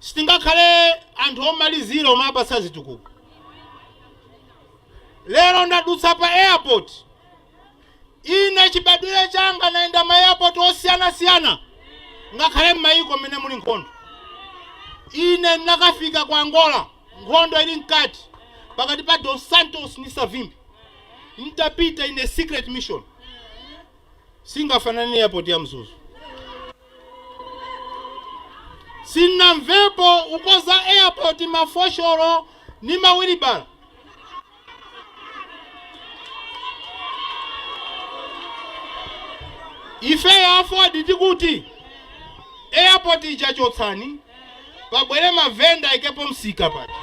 Sitingakhale anthu omalizira omawapatsa zitukuko. Lero ndadutsa pa airport ine chibadwire changa nayenda ma airport osiyana siyana ngakhale mmayiko mmene muli nkhondo. Ine nakafika ku Angola nkhondo ili mkati pakati pa Dos Santos ndi Savimbi. Nditapita ine secret mission. singafanane ndi airport ya mzuzu. Sinnamvepo ukonza airport ma fosholo ndi ma wilibala. Ifeyo aford tikuti airport ija chotsani. pabwere mavenda aikepo msika paja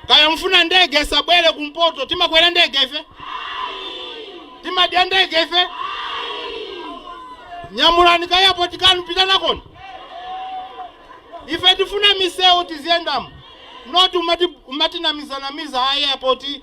kaya mfuna ndege isabwere kumpoto timakwera ndege ife timadya ndege ife nyamulani ka airport kanu pita nakoni ife tifuna misewu tiziyendamo not umatinamizanamiza airport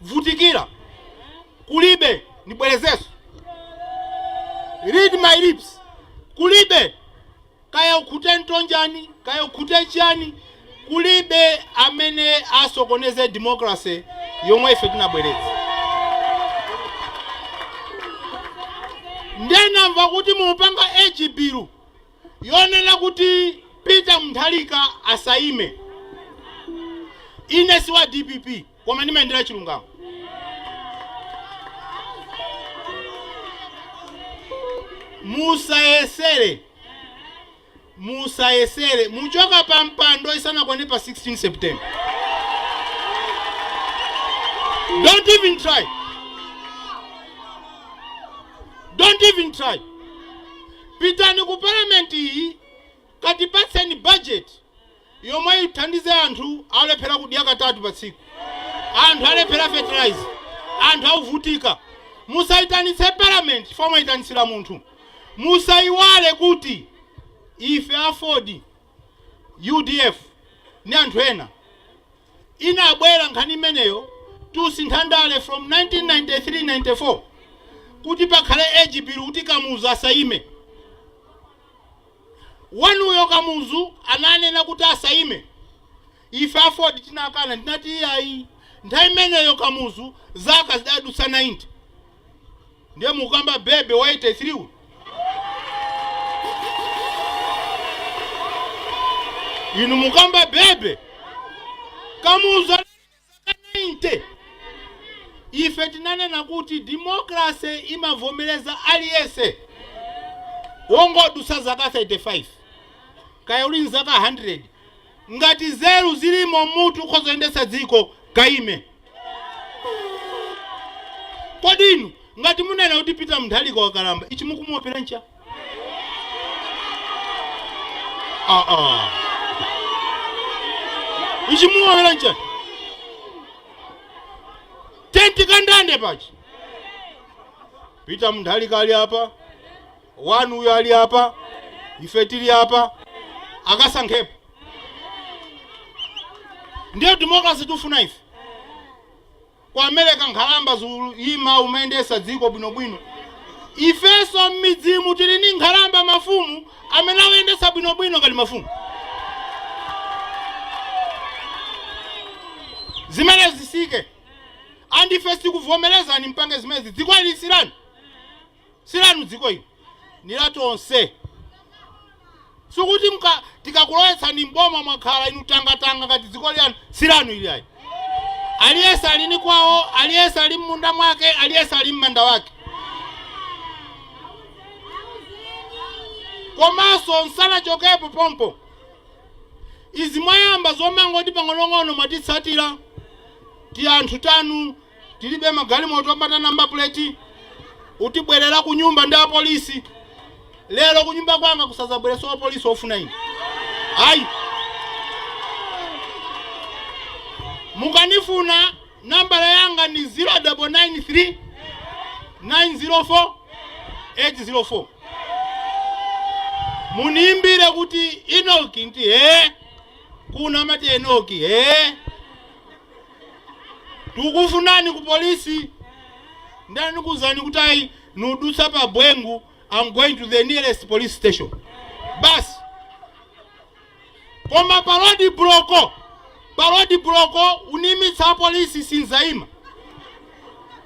vutikira kulibe ndibwerezenso read my lips kulibe kaya ukhute mtonjani kaya ukhute chani kulibe amene asokoneze democracy yomwe ife tinabweretsa nde namva kuti mupanga age bill yonena kuti peter mutharika asaime ine si wa dpp Koma ndimayendera chilungamo. Musayesere, musayesere muchoka pa mpando isanakwane pa 16 September. Don't even try. Don't even try. Pitani ku parliament iyi katipatseni budget yomwe ithandize anthu alephera kudya katatu pa tsiku, anthu alephera fertilizer, anthu auvutika. Musaitanitse parliament chifukwa mwaitanitsira munthu. Musaiwale kuti ife aford, udf ndi anthu ena inabwera nkhani imeneyo tusintha ndale from 1993, 94 kuti pakhale age bill kuti Kamuzu asaime. Wanuyo Kamuzu ananena kuti asayime. Ife aford tinakana tinati iyayi. Nthawi imeneyo Kamuzu zaka zidadutsa 90. Ndiye mukamba Bebe wa 83 uyu? Inu mukamba Bebe? Kamuzu anali. 90 Ife tinanena kuti democracy imavomereza aliyense wongodutsa zaka 35 kaya uli nzaka 100 ngati nzeru zilimo m'mutu ukhoza kuyendetsa dziko kaimeni kodi inu ngati munena kuti peter Mutharika wakalamba ichi mukumuopera ncha ichi mumuopera nchani tenti kandande pachi pita Mutharika ali apa wanu uyo ali apa ife tili apa akasankhepo ndiyo democracy tifuna ife Ku America nkhalamba zuima kumayendesa dziko bwinobwino. Ifeso mmidzimu tili ndi nkhalamba mafumu amene akuyendesa bwinobwino ngati mafumu. Zimenezi zisike ndi ife sitikuvomelezani mpange zimezi dzikoli silan. silanu dziko ili ni la tonse sikuti tikakulowetsani mboma mwakhala inu tangatanga ngati dziko ili lanu silanu ili ayi aliyese ali ni kwawo aliyese ali mmunda mwake aliyese ali mmanda wake komanso nsanachokepo pompo izi mwayamba zomangoti pang'onong'ono mwatitsatira tianthu tanu Tilibe magalimoto opanda number plate utibwerera kunyumba ndi apolisi lero kunyumba kwanga kusazabwereso wapolisi ofuna ine ayi mukandifuna nambala yanga ndi 0993 904 804 muniimbire kuti Enock nti hee kuno amati Enock hee Tukufunani ku police nde anakuuzani kuti ayi nudutsa pa Bwengu am going to the nearest police station basi koma pa road block pa road block unimitsa apolisi sinzaima